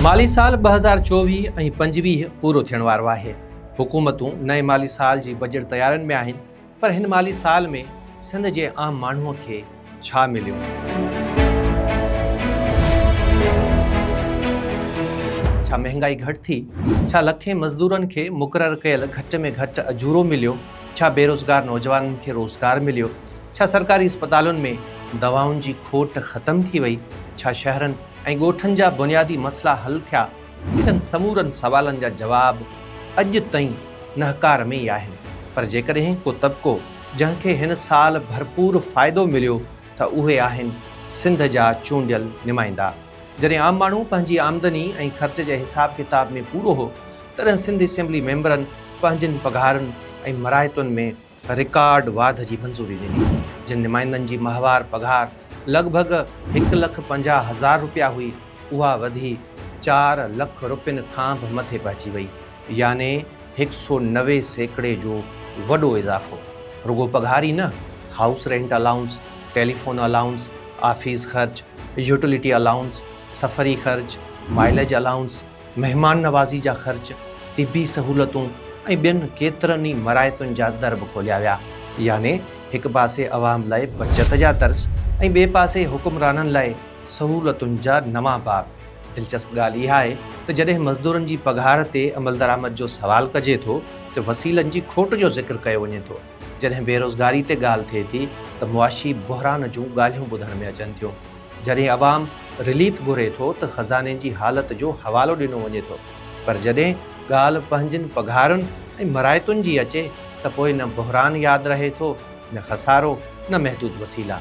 مالي سال ٻه هزار چوويهه ۽ پنجويهه پورو ٿيڻ وارو آهي، حڪومتون نئين مالي سال جي بجيٽ تيارين ۾ آهن پر هن مالي سال ۾ سنڌ جي عام ماڻهوء کي ڇا مليو؟ ڇا مهنگائي گهٽ ٿي؟ ڇا لکين مزدورن کي مقرر ڪيل گهٽ ۾ گهٽ اجورو مليو؟ ڇا بيروزگار نوجوانن کي روزگار مليو؟ ڇا سرڪاري اسپتالن ۾ دوائن جي کوٽ ختم ٿي وئي؟ ڇا شهرن ۽ ڳوٺن جا بنيادي مسئلا حل ٿيا؟ انهن سمورن سوالن جا جواب اڄ تائين نهڪار ۾ ئي آهن. پر جيڪڏهن ڪو طبقو جنهن کي هن سال ڀرپور فائدو مليو ته اهي آهن سنڌ جا چونڊيل نمائندا. جڏهن عام ماڻهو پنهنجي آمدني ۽ خرچ جي حساب ڪتاب ۾ پورو هو تڏهن سنڌ اسيمبلي ميمبرن پنهنجين پگهارن ۽ مراعتن ۾ رڪارڊ واڌ جي منظوري ڏني، جن نمائندن جي ماهوار پگهار لڳ ڀڳ هڪ لک پنجاهه هزار رپيا هئي، اها وڌي چار لک رپين کان به مٿي پهچي وئي، يعني هڪ سئو نوي سيڪڙي جو وڏو اضافو، رڳو پگهار ئي نه، house rent allowance, telephone allowance, office خرچ، يوٽيلٽي الائونس، سفري خرچ، مائليج الائونس، مهمان نوازي جا خرچ، طبي سهولتون ۽ ٻين ڪيترن ئي مراعتن جا در به کوليا ويا. يعني هڪ پاسي عوام لاء بچت جا درس ۽ ٻئي پاسي حڪمرانن لاء سهولتن جا نوان باب. دلچسپ ڳالهه اها آهي ته جڏهن مزدورن جي پگهار تي عملدرآمد جو سوال ڪجي ٿو ته وسيلن جي کوٽ جو ذڪر ڪيو وڃي ٿو، جڏهن بيروزگاري تي ڳالهه ٿئي ٿي ته معاشي بحران جون ڳالهيون ٻڌڻ ۾ اچن ٿيون. جڏهن عوام رليف گهري ٿو ته خزاني جي حالت جو حوالو ڏنو وڃي ٿو پر جڏهن ڳالهه پنهنجين پگهارن ۽ مراعتن جي اچي ته پوء نه بحران ياد رهي ٿو نه خسارو نه محدود وسيلا.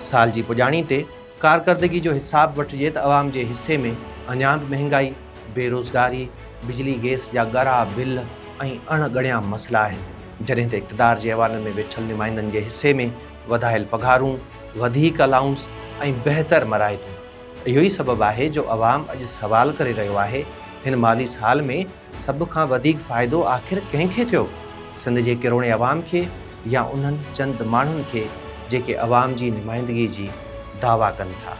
سال جي پڄاڻي تي ڪارڪردگي جو حساب وٺجي ته عوام جي حصي ۾ اڃا به مهنگائي، بي روزگاري، بجلي گئس جا ڳرا بل ۽ اڻ ڳڻيا مسئلا آهن جڏهن ته اقتدار جي ايوانن ۾ ويٺل نمائندن جي حصي ۾ وڌايل پگهارون، وڌيڪ الائونس ۽ بهتر مراعتون اهو ئي سبب آهي جو عوام اڄ سوال ڪري رهيو آهي هن مالي سال ۾ سڀ کان وڌيڪ فائدو آخر ڪنهن کي ٿيو سنڌ جي ڪروڙين عوام کي يا انهن چند ماڻهن کي جيڪي عوام جي نمائندگي جي دعويٰ ڪن ٿا.